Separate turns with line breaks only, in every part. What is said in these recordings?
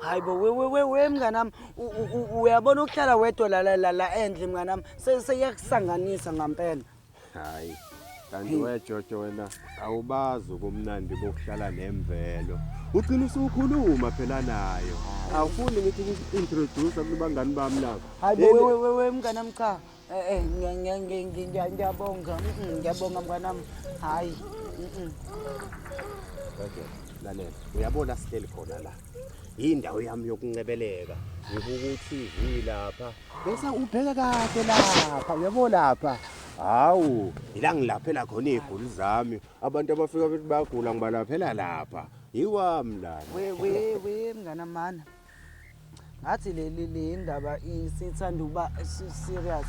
hayi
bo we we we we mnganami u- u- u- uyabona ukuhlala wedwa la la la la endle mnganami se- seyakusanganisa ngampela hayi
kanti wejojo wena awubazi ubumnandi bokuhlala nemvelo ugcina usukhuluma phela nayo awufuni ngithi uku-introduce kubangani bami nabo hayi bo we we we we
mnganami cha Eh, eh, ngiya- ngiya- ngiya- ngiya- ngiya- ngiyabonga Mm-mm, ngiyabonga mnganami hhayi Mm-mm.
Okay, lalela. Uyabona sihleli khona la. Yindawo yami yokuncebeleka. Ngibuka uTV lapha. Bese ubheke kahle lapha. Uyabo lapha. Hawu, ila ngilaphela khona iziguli zami. Abantu abafika bethi bagula ngibalaphela lapha. Yiwami lana. we we we
mnganamana ngathi leli leyindaba isithanda ukuba serious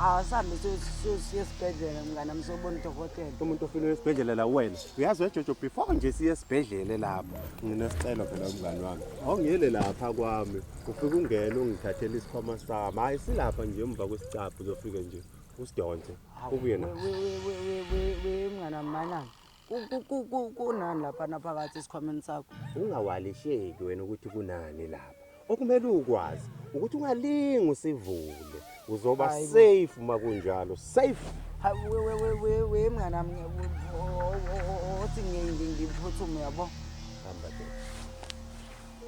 asambe siye esibhedlela mngane ami sobona udokotela umuntu ofile esibhedlela
la wena uyazi wejojo before nje siye esibhedlela lapho nginesicelo phela umngane wami awungiyele lapha kwami ufike ungene ungithathele isikhwama sami hhayi silapha nje emva kwesicaphu uzofike nje usidonse ubuye na
mngane wami manani kunani laphana phakathi esikhwameni sakho ungawalisheki
wena ukuthi kunani lapha okumele ukwazi ukuthi ungalingi usivule uzoba safe uma kunjalo safe we
mnganami othi ngiphuthume yabo hamba ke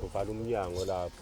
uvala umnyango lapho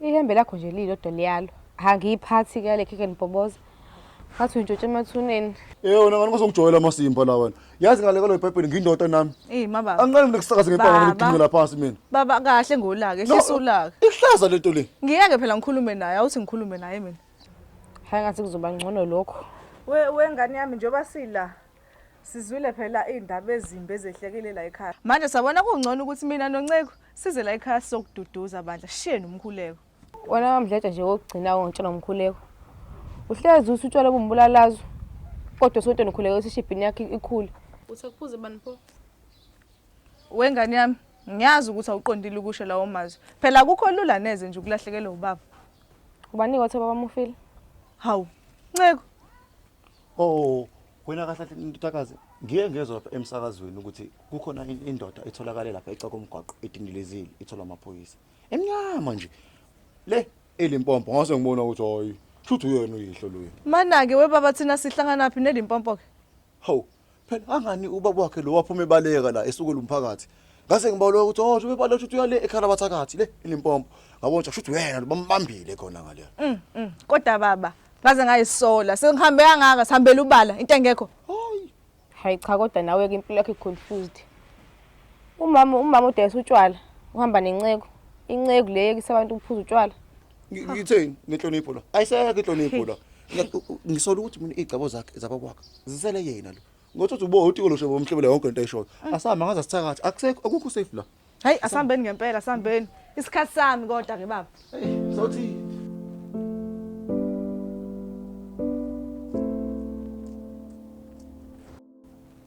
Ihembe lakho nje lilodwa liyalo. Angiyiphathi ke le khekhe nibhoboza. Ngathi uyintshontshe emathuneni. Eh wena ngani kusongijwayela
amasimba la wena. Yazi ngale kwalo iBhayibheli ngindoda nami. Hey mama. Angiqali mina
kusakaza ngempama
ngoba ngidingela phansi mina. Baba kahle ngolaka,
ehlisa ulaka. Ihlaza lento le.
Ngiyeke phela ngikhulume
naye, awuthi ngikhulume naye mina. Hayi ngathi kuzoba ngcono lokho. We wengane yami
njengoba sila Sizwile phela iy'ndaba ezimbi ezehlekile la ekhaya. Manje sabona kungcono ukuthi mina noNceku size la ekhaya sizokududuza bandla. Shiyeni umkhuleko. Wena wamdletsha
nje wokugcina wontsha nomkhuleko. Uhlezi uthi utshwala bumbulalazo. Kodwa sontweni ukhuleke ukuthi ishibhini yakhe ikhule. Uthi akuphuze bani
pho? Wengane yami, ngiyazi ukuthi awuqondile ukusho lawo mazwi. Phela akukho lula neze nje ukulahlekelwa ubaba. Ubanika
othe babamufile. Hawu,
Nceku.
Oh, wena kahle kahle ntutakazi ngiye ngezwe lapha emsakazweni ukuthi kukhona in- indoda etholakale lapha eca komgwaqo edindilezile ithola amaphoyisa emnyama nje le elimpompo ngase ngibona ukuthi hayi shuthi uyena uyihlo loyo Mana-ke webaba
thina sihlanganaphi nelimpompo-ke. hawu
phela angani ubaba wakhe lo waphuma ebaleka la esukela umphakathi ngase ngibaloya ukuthi oh ube balosha ukuthi uyale ekhala bathakathi le ilimpompo ngabona ukuthi kushuthi wena bambambile khona ngale mm, mm. kodwa
baba ngaze ngayisola sengihambe kangaka sihambela ubala into engekho hayi
cha kodwa nawe ke impilo yakhe confused umama umama udayisa utshwala uhamba nenceku inceku le yekisa abantu ukuphuza utshwala Ngi- Ngitheni
nenhlonipho la? Ayisekho inhlonipho la. Ngi- u- u- Ngisola ukuthi mina igcabo zakhe zabakwakhe zisele yena lo. Ngothi uthi ubo utiko losho bomhlebela yonke into ayishoyo. Asihamba ngaze sithakathi. Akusekho akukho safe la. Hayi asambeni ngempela
asambeni. Isikhathi sami kodwa ke baba. Hey, sothi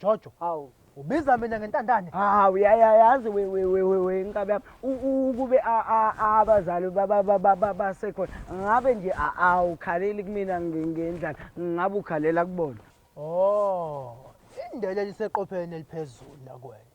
Jojo. Hawu.
Ubiza mina ngentandane. Hawu yayayazi
we we we we we inkabi yami. Ukube abazali baba baba baba sekhona. Ngabe nje awukhaleli kumina ngendlala. Ngabe ukhalela kubona. Oh.
Indele liseqopheni eliphezulu nakwena.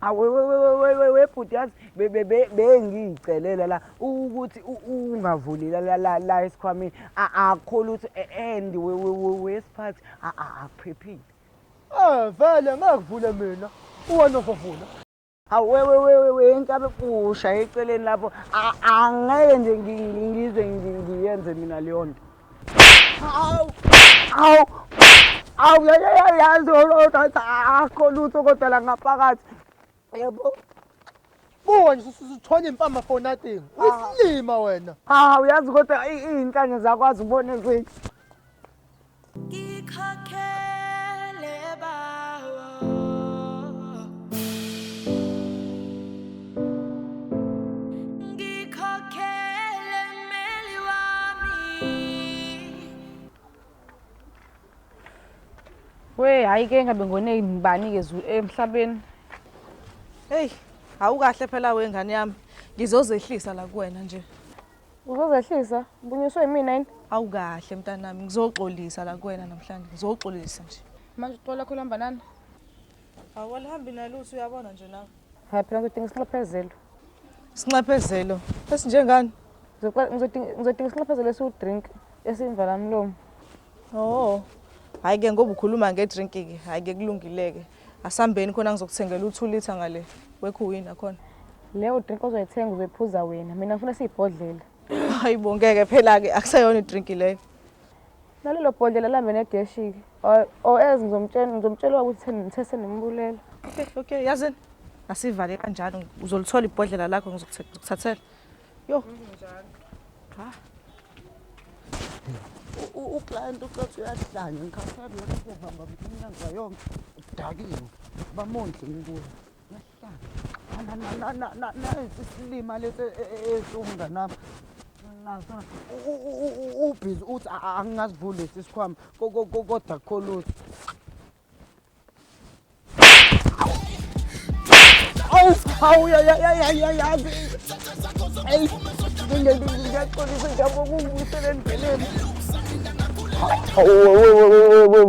awewewewewebhuti
yazi bengiyicelela la ukuthi ungavuli la esikhwameni akho lutho e, and wesiphathi akuphephile um
vele ngakuvule mina uwena ozovula awewewewe
nkabe pusha eceleni lapho angeke nje ngize ngiyenze mina leyo nto Aw! Aw! Aw! Yazi olota akho lutho kodwa la ngaphakathi. Yebo.
Buka nje usuthonya impama for nothing. Ah. Uyisilima wena. Ha uyazi kodwa
izinhlanya zakwazi ubone kwini. Ngikhokhele
bawo. We
hayi ke ngabe ngone ngibani ke zu emhlabeni.
Hey, awukahle phela we ngane yami. Ngizozehlisa la kuwena nje. Uzozehlisa?
Ubunyuswe yimina yini? Awukahle mntanami,
ngizoxolisa la kuwena namhlanje. Ngizoxolisa nje. Manje uxola khona
mbanana.
Awalihambi nalutho uyabona nje nawe. Hayi phela ngizodinga
isinxephezelo. Isinxephezelo
esinjengani?
Ngizodinga isinxephezelo esiwu-drink esimvalamlomo. Oh.
Hayi ke ngoba ukhuluma nge-drink ke. Hayi ke kulungileke. Asambeni khona ngizokuthengela u-2 liter ngale wekhuwina khona. Leyo drink
ozoyithenga uzoyiphuza wena. Mina ngifuna siyibhodlela. Hayibo ngeke
phela ke akusayona i-drink leyo. Nalelo
bhodlela lami negeshiki. Or as ngizomtshela ngizomtshela ukuthi ngithese nembulela. Okay, okay, yazini.
Asivale kanjalo uzolithola ibhodlela lakho ngizokuthathela. Yo. Ha.
U client uqothi uyahlanya ngikhathele lokho bamba umnyango yonke. Udakiwe. Bamondle ngikuwe. nansi isilima lesi esiwumnganami nasona ubhizi uthi angingasivuli lesi sikhwama kodwa kholuthi awu awu yayayayayazi eyi ngiyaxolisa njabo kungibuyisele endleleni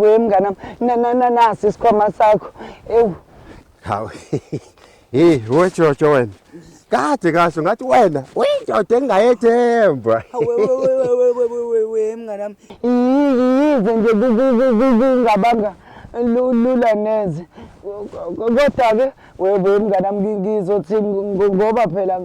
wemnganami nasi isikhwama sakho ewu hawu
hey wejojo wena kade kahle ngathi wena uyindoda engingayethemba wewewewewewewe
mngane wami yize nje kungabanga lula neze kodwa-ke webe mngane wami ngizothi ngoba phela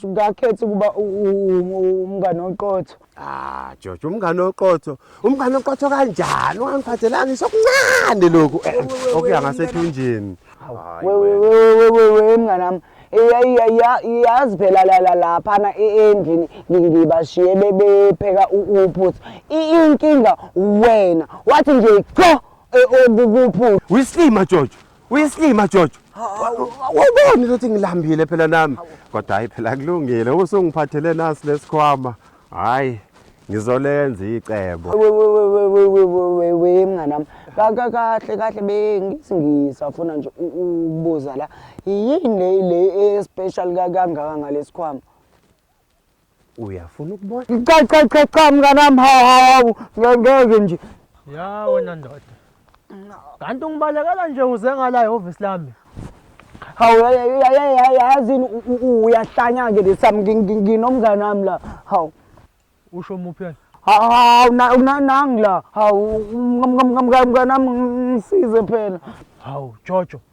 ngakhetha ukuba umngane oqotho Ah, George,
umngane oqotho. Umngane oqotho kanjani? Ungangiphathelanga ngisho kuncane lokhu. Eh, Okuya ngasethunjini. Hayi, Wewe wena. wewe wewe wewe
mnganami. Iya iya iya yazi phela la la lapha na endlini ngi- ngibashiye bebepheka u- uphuthu. I- Inkinga wena wathi nje qo eh, okukuphuthu. Wislima George,
Uyisilima Jojo. Awuboni ukuthi ngilambile phela nami. Kodwa hayi phela kulungile usungiphathele nasi lesikhwama. Hayi ngizolenza icebo. We we we we we we we we we
mnganami. Ka- ka- Kahle kahle bengithi ngisafuna nje u- ukubuza la. Yini le le especial ka- kangaka ngalesikhwama? uyafuna
ukubona cha cha cha cha
mnganami hawu hawu ngeke nje ya wena
ndoda kanti ungibalekela nje uze ngala ehhovisi lami hawu
yazini uyahlanya-ke lesami nginomngane wami la hawu usho
muphi yena hawu
nangi la hawu mnganami ngisize phela hawu jojo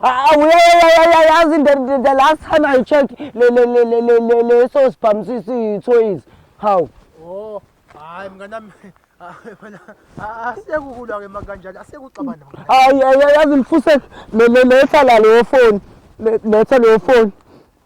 awuyayayayayazi the last time i check leso sibhamu siyithoyizi hawu o
hayi mnganami asiyekukulwa-ke makanjani asiyekuxabana hayi yazi mfusek
letha la leyo foni letha leyo foni